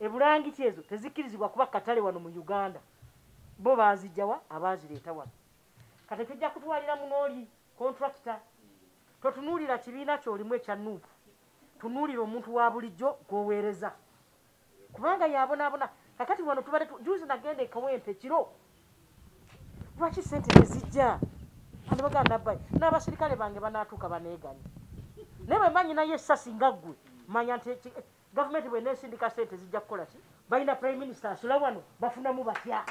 Ebulangiti ezo tezikkirizibwa kuba katale wano mu Uganda. Bo baazijja wa? Abaazireeta wano. Kati ekyo ojja kutwalira munooli kontulakita. Totunuulira kibiina ky'olimu ekya nup. Tunuulira omuntu wa bulijjo gw'oweereza. Kubanga y'abonaabona. Kakati wano tubadde tu, juuzi nagenda e Kawempe kiro. Lwaki ssente tezijja? Ani bagamba nabbayi. N'abaserikale bange banaatuuka baneeganye. Naye bwe mba nyinayo essasi nga ggwe, manya nti Gavumenti bwenesindika sente zijja kukola ki? Balina Prime Minister asula wano bafunamu batya?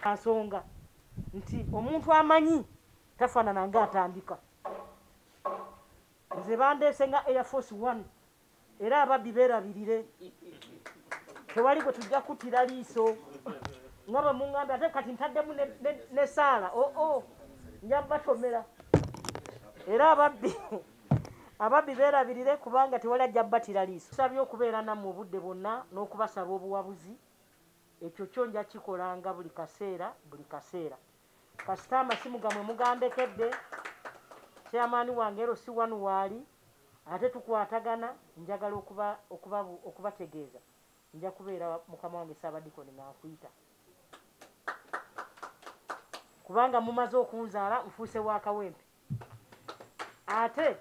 Asonga nti omuntu amanyi tafanana nga atandika. Nze bandeese nga Air Force One era ababbi beerabirire. Tewali gwe tujja kuttira liiso nga bwe mungambye ate kati ntaddemu ne saala oo oh, oh, nja batomera era ababbi Ababbi beerabirire kubanga tewali ajja bbattira liiso. Nsabye okubeera nammwe obudde bwonna n'okubasaba obuwabuzi. Ekyo kyo nja kikolanga buli kaseera buli kaseera. Kasita amasimu gammwe mugandekedde, Chairman wange LC one waali ate tukwatagana, njagala okuba okuba okubategeeza nja kubeera mukama wange Ssaabadiikoni nga nkuyita kubanga mumaze okunzaala nfuuse wa Kawempe. ate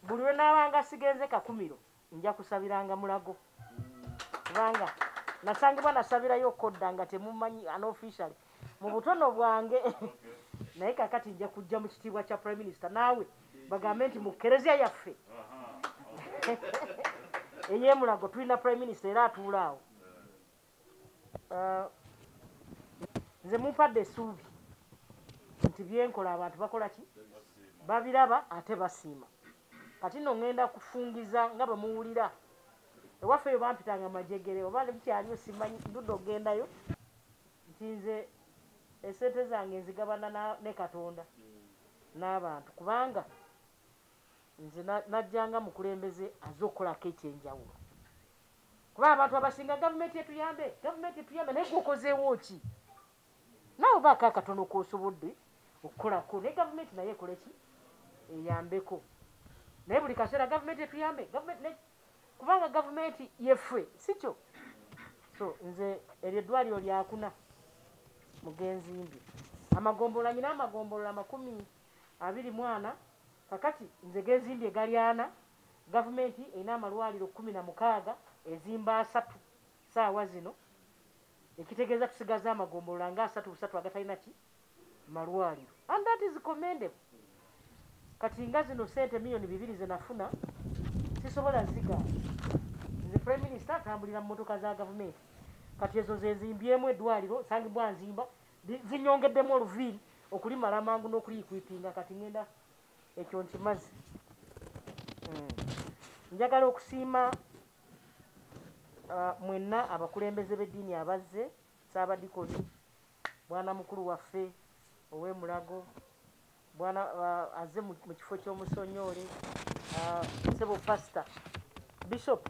buli lwe naabanga sigenze kakumiro nja kusabiranga mulago kubanga nasangibwa nasabirayo okodda nga temumanyi anofficially mu butono bwange naye kakati nja kujja mu kitiibwa kya prime minister naawe bagambe nti mu kereziya yaffe eyemulago tulina prime minister era atuulaawo uh, nze mumpadde esuubi nti byenkola abantu bakola ki babiraba ate basiima kati no ŋŋenda kufungiza nga bwe muwulira ewaffe eyo bampitanga majegere oba nebukyaliyo simanyi ndudde okugendayo nti nze esente zange nzigabana ne katonda n'abantu kubanga nze najja nga mukulembeze aze okukolako ekyenjawulo kuba abantu abasinga gavumenti etuyambe gavumenti etuyambe naye gwokozeewo ki nawe obaako akatono kosobodde okukolako naye gavumenti naye ekoleki eyambeko naye buli kaseera gavumenti etuyambe kubanga gavumenti yeffe sikyo so nze eryo eddwaliro lyakuna mugenzi mbi amagombolola nyina amagombolola makumi abiri mu ana kakati nze gezimbye gali ana gavumenti erina amalwaliro kumi na mukaaga ezimba asatu saawa zino ekitegeeza tusigaza amagombolola nga asatu busatu agatalina ki malwaliro and that is commendable kati nga zino sente miyoni bibiri zenafuna sisobola ziga nze prime minister atambulira mu motoka za gavumenti kati ezo zezimbyemu edwaliro sangibwa nzimba zinyongeddemu oluviiri okulimala amangu n'okuliyikwipinga kati ngenda ekyo nkimazi hmm. njagala okusiima uh, mwenna abakulembeze b'eddiini abazze saabadikoni mwana mukulu waffe ow'emulago mwana uh, azze mu kifo ky'omusonyoole uh, sebo pasita bishop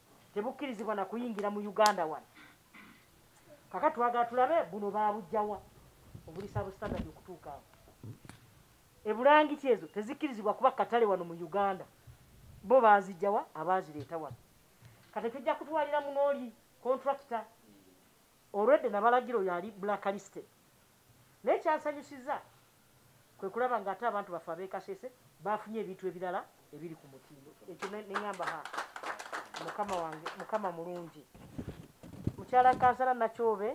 tebukkirizibwa na kuyingira mu uganda wano kaka twagala tulabe buno babujjawa obuli sabusitandadi okutuukaawo ebulangiti ezo tezikkirizibwa kuba katale wano mu uganda bo bazijjawa abaazireeta wano kati tujja kutwalira munooli kontrakita olwedde nabalagira oyo ali black listed naye kyansanyusiza kwe kulaba ng'ate abantu baffe ab'e Kasese baafunye ebintu ebirala ebiri ku mutindo. Ekyo ne ŋŋamba ha, mukama wange, mukama mulungi. Mukyala Kansala Nakyobe,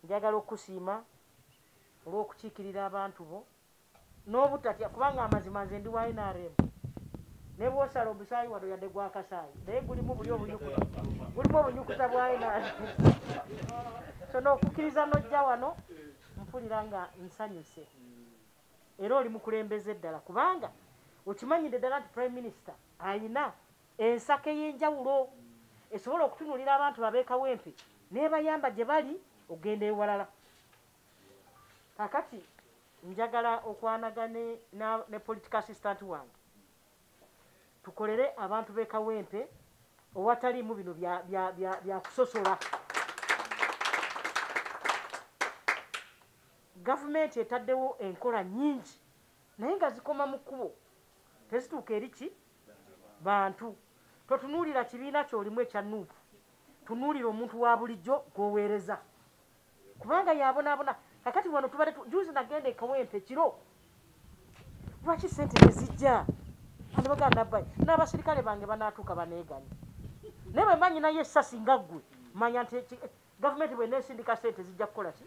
njagala okukusiima olw'okukiikirira abantu bo n'obutatya kubanga amazima nze ndi wa NRM ne bw'osala omusaayi wano yadde gwakasaayi naye gulimu buli obunyukuta gulimu obunyukuta bwa NRM so n'okukkiriza n'ojja wano mpulira nga nsanyuse era oli mukulembeze ddala kubanga okimanyidde ddala nti prime minister ayina ensako ey'enjawulo esobola okutunulira abantu babeekawempe nebayamba gye bali okugenda ewalala kakati njagala okwanagane ne political assistant wange tukolere abantu b'e kawempe owataliimu bino byakusosola gavumenti etaddewo enkola nyingi naye nga zikoma mu kkubo tezituuka eri ki bantu totunuulira kibiina kyolimu ekya nuupu tunuulira omuntu wa bulijjo gwoweereza kubanga yabonabona kakati wano tubadde juzi nagenda ekawempe kiro lwaki sente tezijja anobagaa nabbayi n'abaserikale bange banaatuuka baneeganye naye bwe mba nyinayo essasi nga ggwe manya nti gavumenti bwe neesindika sente zijja kukola ki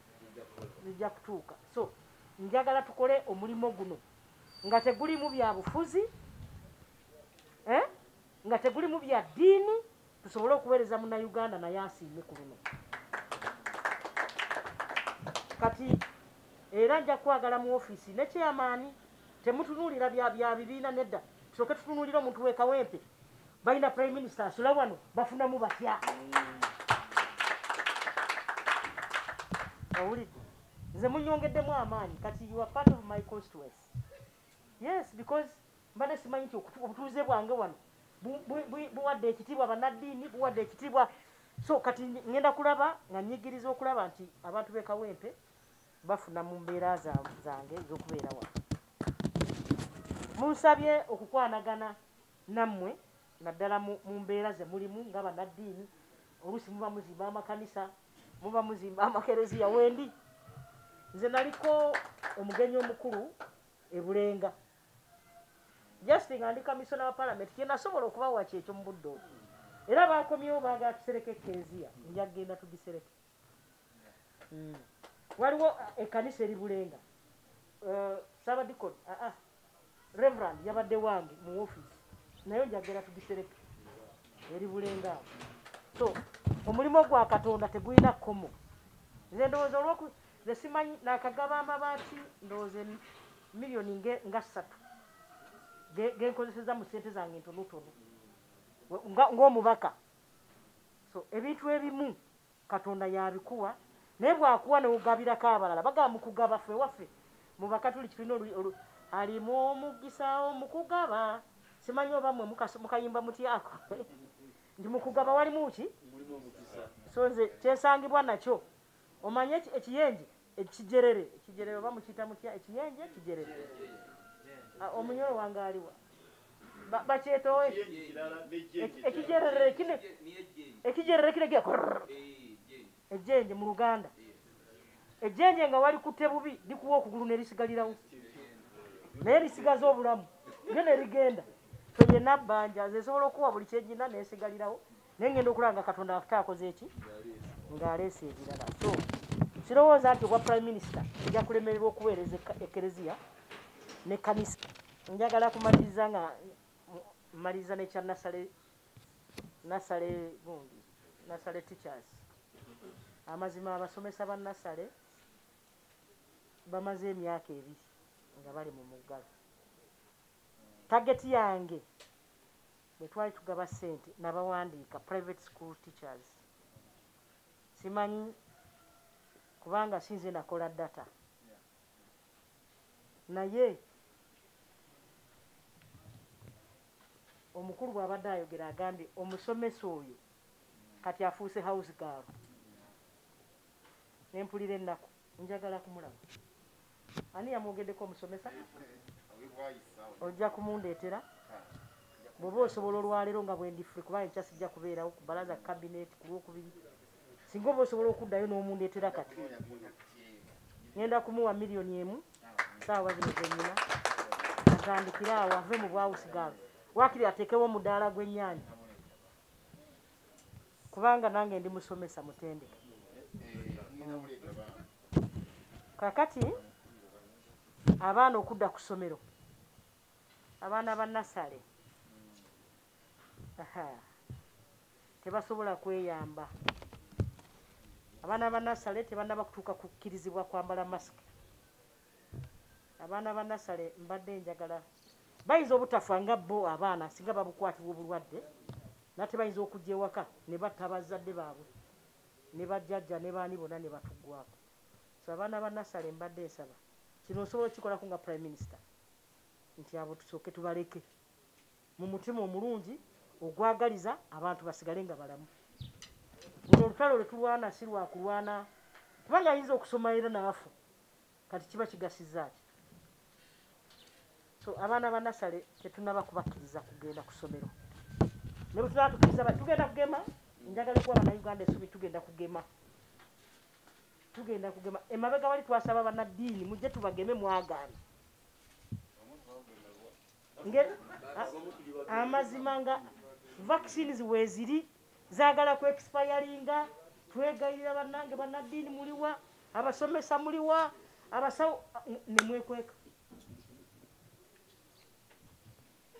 zijja kutuuka so njagala tukole omulimu guno nga tegulimu bya bufuzi eh? nga tegulimu bya ddiini tusobole okuweereza munnayuganda naye asiime ku luno kati era nja kwagala mu ofiisi ne kyeyamaani temutunuulira bya bibiina nedda tusoke tutunuulira omuntu wekawempe balina prime minister asula wano bafunamu batya owulidde nze munyongeddemu amaanyi kati you are part of my constituency yes because mbadde simanyi nti obutuuze bwange wano buwadde ekitiibwa bannaddiini buwadde ekitiibwa so kati ŋenda kulaba nga nyigiriza okulaba nti abantu bekawempe bafuna mu mbeera zange ezokubeera wano munsabye okukwanagana nammwe naddala mu mbeera ze mulimu nga bannaddiini oluusi muba muzimba amakanisa muba muzimba amakereziya wendi nze naliko omugenyi omukulu ebulenga just nga ndi kamisona wa palamenti kyenasobola okubawa kyekyo mu budde obwo era bakomyewo baagala tusereke ekereziya nja kugenda tugisereke hmm. waliwo eh, ekkanisa eri bulenga eh, sabadikon aa ah, ah. reverand yabadde wange mu ofiisi naye nja kugenda tugisereke eri bulenga awo so omulimu gwa katonda tegulina kkomo nze ndowooza olwoku nze simanyi nakagaba amabaati ndowooza miliyoni nga ssatu genkozeseza mu sente zange ntonotono ngaomubaka so ebintu ebimu katonda yabikuwa naye bwakuwa newugabirako abalala bagaba mukugaba fe waffe mubaka tuli kitulina alimu omugisa omukugaba simanyi oba mwe mukayimba mutyako ndi mukugaba walimu ki so nze kyesangibwa nakyo Omanyi eki- ekiyenje ekijerere ekijerere oba mukiyita mutya ekiyenje ekijerere Ah, omunyolo wange aliwa Ba- bakyetowa eki- Ekiyenje kirala n'ejjenje eki- kirala. ekijerere kino Niye jjenje. ekijerere kino ekira kurr. Eh, jjenje. ejjenje mu luganda ejjenje nga walikutte bubi likuwa okugulu ne lisigalirawo naye lisigaza obulamu lyo ne ligenda fe yenna bbanja nze nsobola okukuwa buli kyegina nesigalirawo naye ngenda okulaba nga katonda wafute akoze eki ng'aleesa ebirala so sirowooza nti obwa prime minister nja kulemererwa okuweereza ekereziya ne kanisa njagala kumaliriza nga mmaliriza nekya nasale nasale gundi nasale teachers amazima abasomesa ba nasale bamaze emyaka ebiri nga bali mu muggalo tageti yange Bwe twali tugaba ssente nabawandiika, private school teachers, simanyi kubanga si nze nakola data naye omukulu bw'abadde ayogera agambye omusomesa oyo kati afuuse house girl nempulira ennaku njagala kumulaba ani yamwogeddeko omusomesa ojja kumundeetera bwoba osobola olwaleero nga bwendifre kuba enkya sijja kubeerawo ku balaza kabinet ku lwokubiri singa oba osobola okuddayo n'omundeetera kati ŋenda kumuwa miliyoni emu saawa zino zenyina atandikire awo ave mu bwawusigaalo wakiri ateekewo omudaala gw'ennyanja kubanga nange ndi musomesa mutendeke kakati abaana okudda ku ssomero abaana ba nasale tebasobola kweyamba abaana ba nasale tebanaba kutuuka kukkirizibwa kwambala masiki abaana ba nasale mbadde njagala bayinza obutafa nga bo abaana singa babukwatibwa obulwadde nate bayinza okujja ewaka ne batta bazzadde baabwe ne bajjajja ne baani bonna ne batuggwako so abaana ba nasale mbadde nsaba kino nsobola okikolako nga prime minister nti abo tusooke tubaleke mu mutima omulungi ogwagaliza abantu basigale nga balamu luno olutalo lwetulwana si lwakulwana kubanga ayinza okusoma era naafu kati kiba kigasiza ki so abaana ba nasale tetunaba kubakkiriza kugenda ku ssomero ne bwe tunaba tukkiriza tugenda kugema njagala okuba banauganda esubi tugenda kugema tugenda kugema emabega wali twasaba banaddiini mujje tubageme mwagaana amazima nga vaccines weziri zagala ku expiringa twegayirira banange banaddiini muliwa abasomesa muliwa abasawo nemwekweka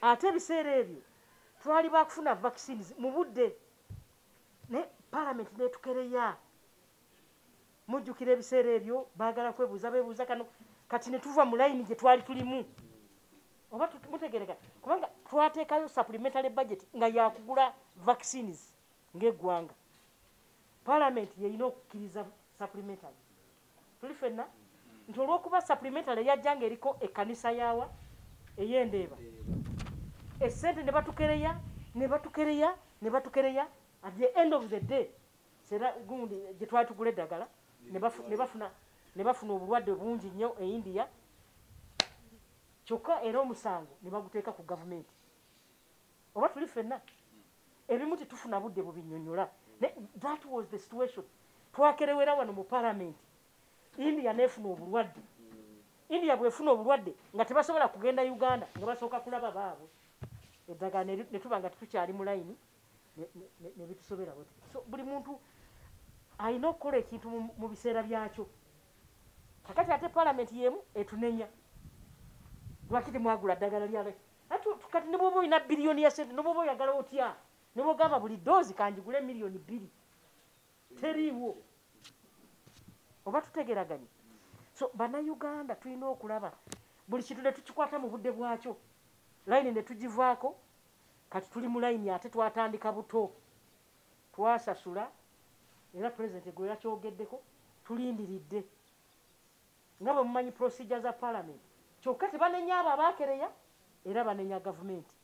ate ebiseera ebyo twali bakufuna vaccines mu budde ne palamenti netukereya mujjukira ebiseera ebyo bagala kwebuuza bebuuza kano kati netuva mu layini gye twali tulimu oba mutegereka kubanga twateekayo supplementary budget nga yakugula vaccines ng'eggwanga palamenti yeyina okukkiriza supplementary tuli fenna nti olwokuba supplementary yajja nga eriko ekkanisa yaawa eyendeeba esente ne batukereya ne batukereya ne batukereya at the end of the day sera gundi gye twali tugula eddagala ne bafuna obulwadde bungi nnyo e india kyokka era omusango ne baguteeka ku gavumenti oba tuli fenna ebimu tetufuna budde bubinyonyola naye that was the situation twakerewera wano mu palamenti india nefuna obulwadde india bwefuna obulwadde nga tebasobola kugenda uganda nga basooka kulaba baabwe eddagala netuba nga tetukyali mu layini nebitusobera bwe so buli muntu alina okukola ekintu mu biseera byakyo kakati ate palamenti yemu etunenya lwaki temwagula ddagala lyalaki kati ne bwoba olina biliyoni ya sente nobwoba oyagala otya ne bwogamba buli doozi kanjigule miliyoni bbiri teriiwo oba tutegeraganye so banauganda tulina okulaba buli kintu ne tukikwata mu budde bwakyo layini ne tugivaako kati tuli mu layini ate twatandika buto twasasula era pulezidenti gwe yakyogeddeko tulindiridde nga bwe mumanyi procedure za parliament kyokka tebanenya abo abaakereya era banenya gavumenti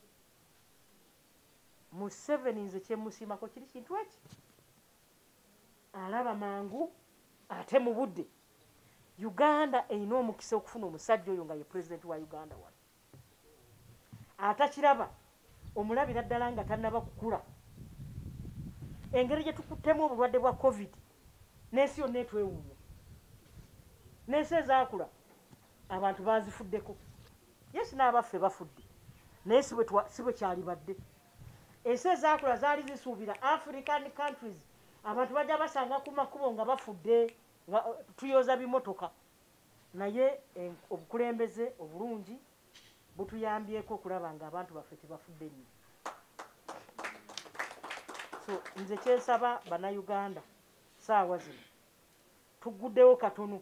museveni nze kyemusiimako kiri kintu eki alaba mangu ate mu budde uganda erina omukisa okufuna omusajja oyo nga ye pulezidenti wa uganda wano atakiraba omulabira ddala nga tannaba kukula engeri gye tukuttemu obulwadde bwa covid n'ensi yonna etwewuunya n'ensi ezaakula abantu baazifuddeko ye sinaabaffe bafudde naye si bwe kyalibadde ensi ezaakula zaali zisuubira african countries abantu bajja basanga ku makubo nga bafudde nga uh, tuyoza bimotoka Naye obukulembeze obulungi butuyambyeko okulaba nga abantu baffe tebafudde nnyo. So nze kyensaba bannayuganda saawa zino tugguddewo katono,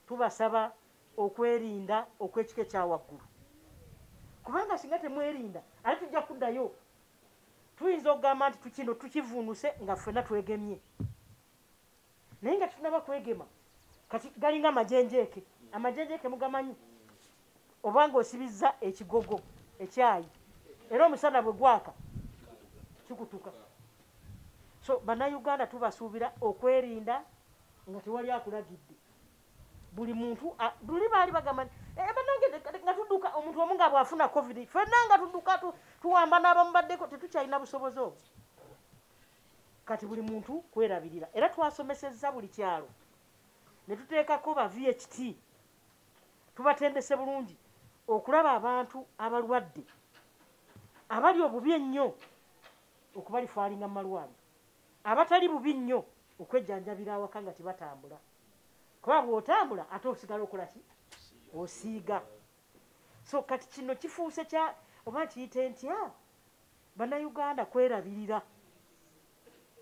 tubasaba okwerinda okw'ekika ekyawaggulu, kubanga singa temwerinda ate tujja kuddayo. Tuyinza okugamba nti tukino tukivuunuse nga ffena twegemye. naye nga tetunaba kwegema kati galinga amajenjeeke amajenjeeke mugamanyi obanga osibizza ekigogo ekyayi era omusana bwe gwaka kikutuka so bannayuganda tubasuubira okwerinda nga tewali akulagidde buli muntu luli baali bagamba eh, banange nga tudduka omuntu omu nga bwafuna covid fenna nga tudduka tuwamba n'abamubaddeko tetukyalina busobozi obwo kati buli muntu kwerabirira era twasomesezza buli kyalo ne tuteekako ba vht tubatendese bulungi okulaba abantu abalwadde abali obubi ennyo okubalifaalinga mu malwaliro abatali bubi nnyo okwejjanjabira awaka nga tebatambula kuba bw'otambula ate osigala okola ki osiiga so kati kino kifuuse kya oba kiyite ntya Bannayuganda kwerabirira,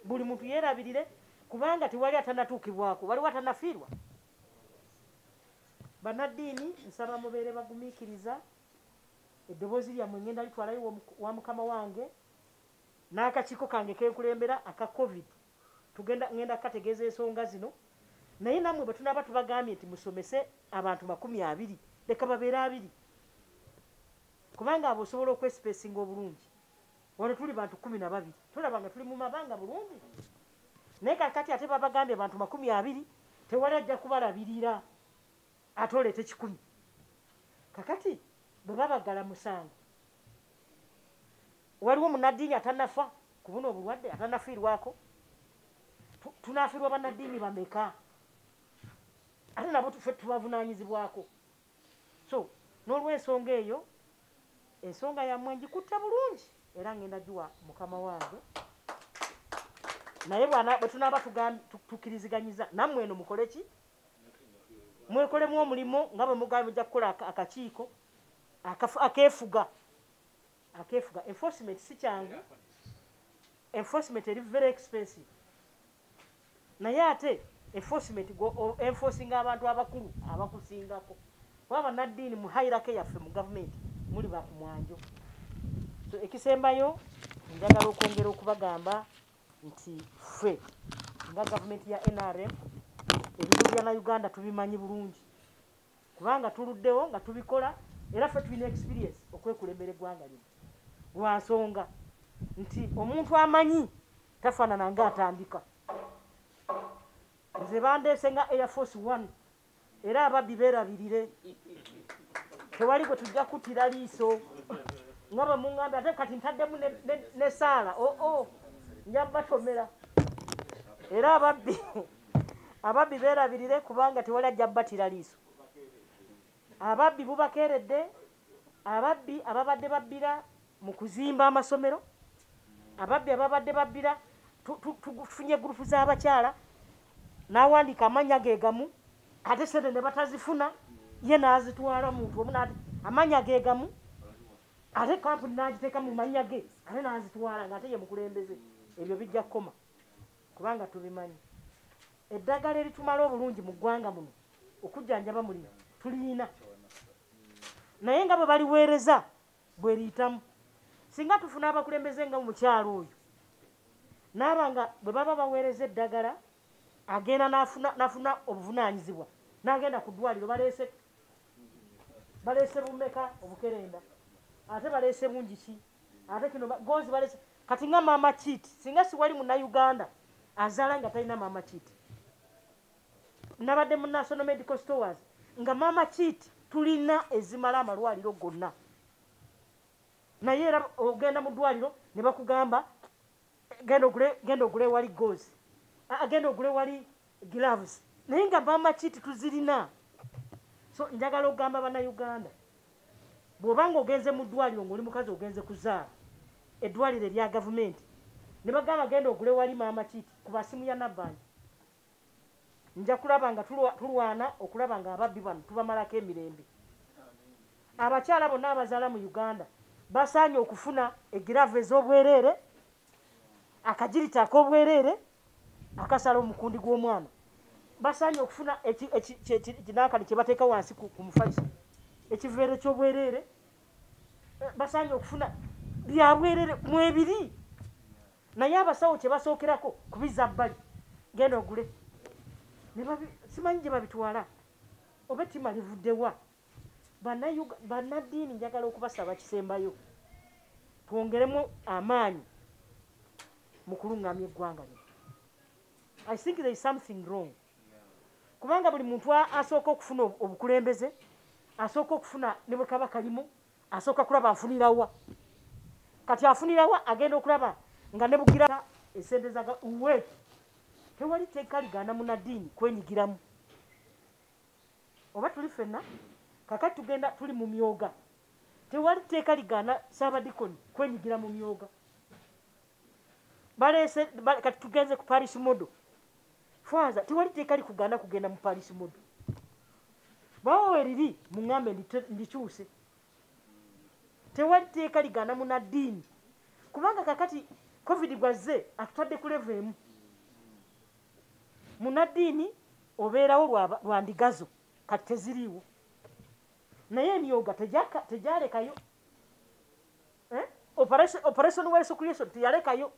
buli muntu yeerabirire kubanga tewali atanatuukibwako, waliwo atanafiirwa. Bannaddiini nsaba mubeere bagumiikiriza, eddoboozi lyammwe ngenda litwalayo wa mukama wange n'akakiiko kange kenkulembera aka covid tugenda ngenda kukategeeza ensonga zino naye nammwe bwe tunaaba tubagambye nti musomese abantu makumi abiri leka babeere abiri kubanga abo osobola okwesipesinga obulungi wano tuli bantu kumi na babiri tulaba nga tuli mu mabanga bulungi naye kakati ate babagambye bantu makumi abiri tewali ajja kubalabirira ate oleeta ekikumi kakati bwe babagala musango waliwo munaddiini atanafa ku buno obulwadde atanafiirwako tunafiirwa banaddiini bameka ate nabo tufe tubavunaanyizibwako so n'olwensonga eyo ensonga yammwe ngikutte bulungi era ngenda giwa mukama wange naye bwe tunaaba tukiriziganyiza nammwe eno mukole ki mwekolemu omulimu nga bwe mugambye mujja kukola akakiiko akeefuga akefuga enforcement si kyangu enforcement eri very expensive naye ate enforcement go enforcing abantu abakulu abakusingako kuba banaddiini mu hairake yaffe mu gavumenti muli bakumwanjo so ekisembayo njagala okwongera okubagamba nti ffe nga gavumenti ya nrm ebizibu bya na uganda tubimanyi bulungi kubanga tuluddewo nga tubikola era ffe tulina experience okwekulembera eggwanga lino lwa nsonga nti omuntu amanyi tafaanana nga atandika nze bandeese nga air force one era ababbi beerabirire tewali gwe tujja kuttira liiso nga bwe muŋŋambi ate kati ntaddemu ne saala oo oh, oh, nja batomera era ababbi ababbi beerabirire kubanga tewali ajja bbatira liiso ababbi bubakeeredde ababbi ababadde babbira mu kuzimba amasomero ababbi ababadde babbira tufunye gurupu z'abakyala n'awandiika amannya ge gamu ate sente ne batazifuna ye n'azitwala muntu omu nati amannya ge gamu ate kampuni n'agiteeka mu mannya ge ate n'azitwala ng'ate ye mukulembeze ebyo bijja kukoma kubanga tubimanyi eddagala eritumala obulungi mu ggwanga muno okujjanjaba mulina tulina naye nga bwe baliweereza bweriyitamu singa tufuna abakulembeze nga mukyalo oyo naaba nga bwe baba baweereza eddagala agenda nafuna obuvunaanyizibwa nagenda ku ddwaliro baleese baleese bumeka obukerenda ate baleese bungi ki ate kino gonzi balese kati nga maama kiti singa siwali munauganda azaala nga talina maama kiti nabadde mu national medical stores nga maama kiti tulina ezimala amalwaliro gonna naye era ogenda mu ddwaliro ne bakugamba genda ogule genda ogule wali gozi agenda ah, ah, ogule wali gloves naye nga bamaki tetuzirina so njagala okugamba banauganda bwobanga ogenze mu ddwaliro ngaoli mukazi ogenze kuzaala eddwaliro erya gavumenti ne bagamba genda ogule wali maama kiti ku basimu ya nabbanja nja kulaba nga tulwana okulaba nga ababbi bano tubamalako emirembe abakyala bonna abazaala mu uganda basaanye okufuna egiravu ez'obwereere akagirita ak'obwereere akasala omukundi gw'omwana basaanye okufuna kinakali kye bateeka wansi ku mufaki ekiveero ky'obwereere eh, basaanye okufuna byabwereere mwebiri naye abasawo kyebasookerako kubiza bbali genda ogule simanyi gye babitwala oba ettima livuddewa bannaddiini njagala okubasaba kisembayo twongeremu amaanyi mu kuluŋŋamya eggwanga lino i think there is something wrong kubanga buli muntu asooka okufuna obukulembeze asooka okufuna ne bwe kaba kalimu asooka kulaba afunirawa kati afunirawa agenda okulaba nga ne bugira esente zaga uwe tewali teeka ligaana munadiini kwenyigiramu oba tuli fenna kakati tugenda tuli mu myoga tewali teeka ligaana saabadikoni kwenyigira mu myoga baleese kati tugenze ku parish modo Father, tewali teeka likugaana kugenda mu Paris Modo. Bwaba weriri, mungambe ndikyuse. Tewali teeka ligaana muna ddiini. Kubanga kakati Covid gwazze atutadde ku level emu. Muna ddiini obeerawo lwa ndigazo kati teziriiwo. Naye emyoga tegyalekayo. Eh? Operation wa Yesu Kristo teyalekayo.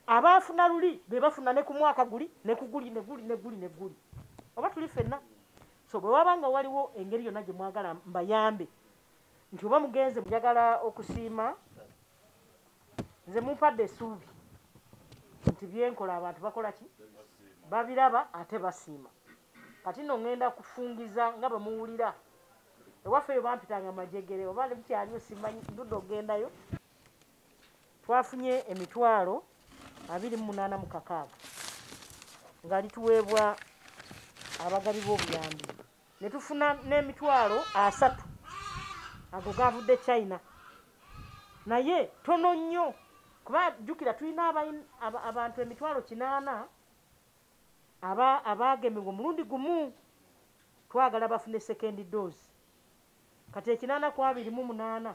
abaafuna luli be bafuna ne ku mwaka guli ne ku guli ne guli ne guli ne guli oba tuli fenna so bwe waba nga waliwo engeri yonna gye mwagala mbayambe nti oba mugenze njagala okusiima nze mumpadde esuubi nti byenkola abantu bakola ki babiraba ate basiima kati no ŋŋenda kufungiza nga bwe muwulira ewaffe eyo bampitanga majegere oba ne bukyaliyo simanyi ndudde okugendayo twafunye emitwalo abiri munaana mu kakaaga nga lituweebwa abagabi b'obuyambi ne tufuna n'emitwalo asatu ago gaavudde china naye tono nnyo kuba jjukira tulina abantu emitwalo kinaana abaagemebwa omulundi gumu twagala bafune sekendi doozi kati ekinaana ku abiri mu munaana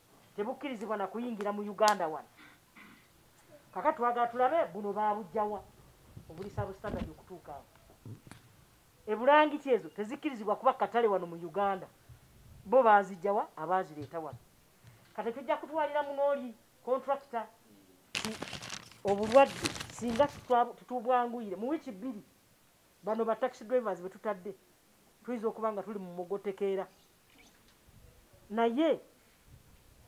tebukkirizibwa na kuyingira mu uganda wano kaka twagala tulabe buno babujjawa obulisa bu standard okutuukaawo ebulangiti ezo tezikkirizibwa kuba katale wano mu uganda bo bazijjawa abaazireeta wano kati tujja kutwalira munooli kontrakita obulwadde singa tutubwanguyire mu wiiki bbiri bano ba taxi drivers betutadde tuyinza okuba nga tuli mu mugotekeera naye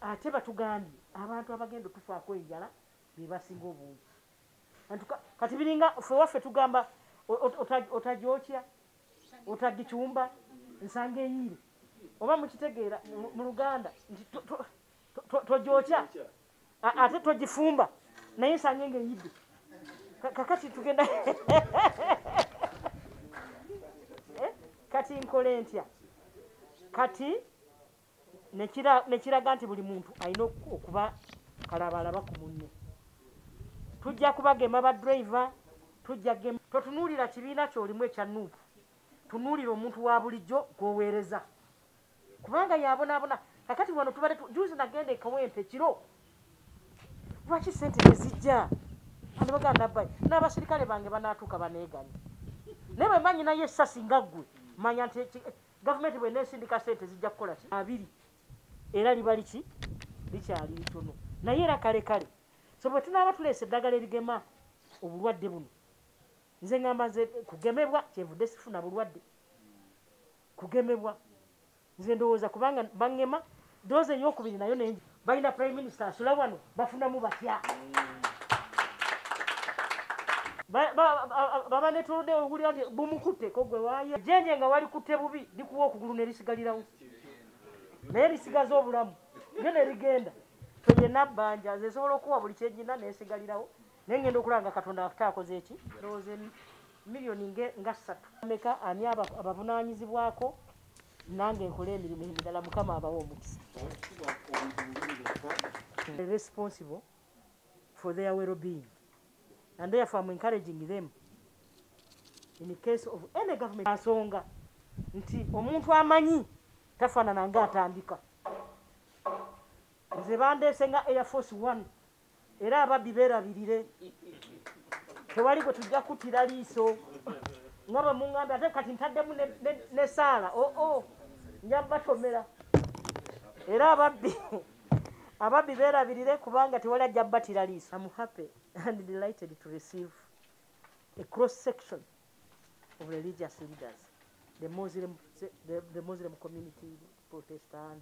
ate batugambye abantu abagenda otufaako enjala bebasinga obungi kati biringa fe waffe tugamba otajokya otagicumba nsanga eyiire oba mukitegeera mu luganda nti tojokya ate togifumba naye nsange nga eyidde kakati tugenda eh, kati nkole ntya kati nekiraga nti buli muntu alina okuba kalabalaba ku munne tujja kubagema ba driver tujja gema totunuulira kibiina kyolimu ekya nuupu tunuulira omuntu wa bulijjo gwoweereza kubanga yabonabona kakati wano tubale juzi nagenda ekawempe kiro lwaki sente tezijja anebaganda bai n'abasirikale bange banatuuka baneeganye naye bwe manyi naye esasi nga ggwe manya nti gavumenti bwe neesindika sente zijja kukola ki abiri era liba liki likyali litono naye era kale kale so bwe tunaaba tuleesa eddagala erigema obulwadde buno nze ngamba nze kugemebwa kyenvudde sifuna bulwadde kugemebwa nze ndowooza kubanga bangema doze eyokubiri nayo nengi balina prime minister asula wano bafunamu batya baba netuludde owulira nti bumukutteko gwe waye jenje nga walikutte bubi likuwa okugulu nerisigalirawo naye lisigaza obulamu lyo nerigenda toyena bbanja nze nsobola okuwa buli kyegina nesigalirawo naye ngenda okulaba nga katonda afute akoze eki ndowooza million nge nga satu meka ani abavunanyizibwako nange nkole emirimu emirala mukama abawa omukisa responsible for their well being and therefore am encouraging them in the case of any government asonga nti omuntu amanyi tafanana nga atandika nze bandese nga air force one era ababbi berabirire tewali gwe tujja kutira liiso nga bwe muŋŋambe ate kati ntaddemu nesaala oo oh, oh, nja batomera era ababbi ababbi berabirire kubanga tewali ajja batira liiso am happy and delighted to receive a cross section of religious leaders the muslim, the, the muslim community protestant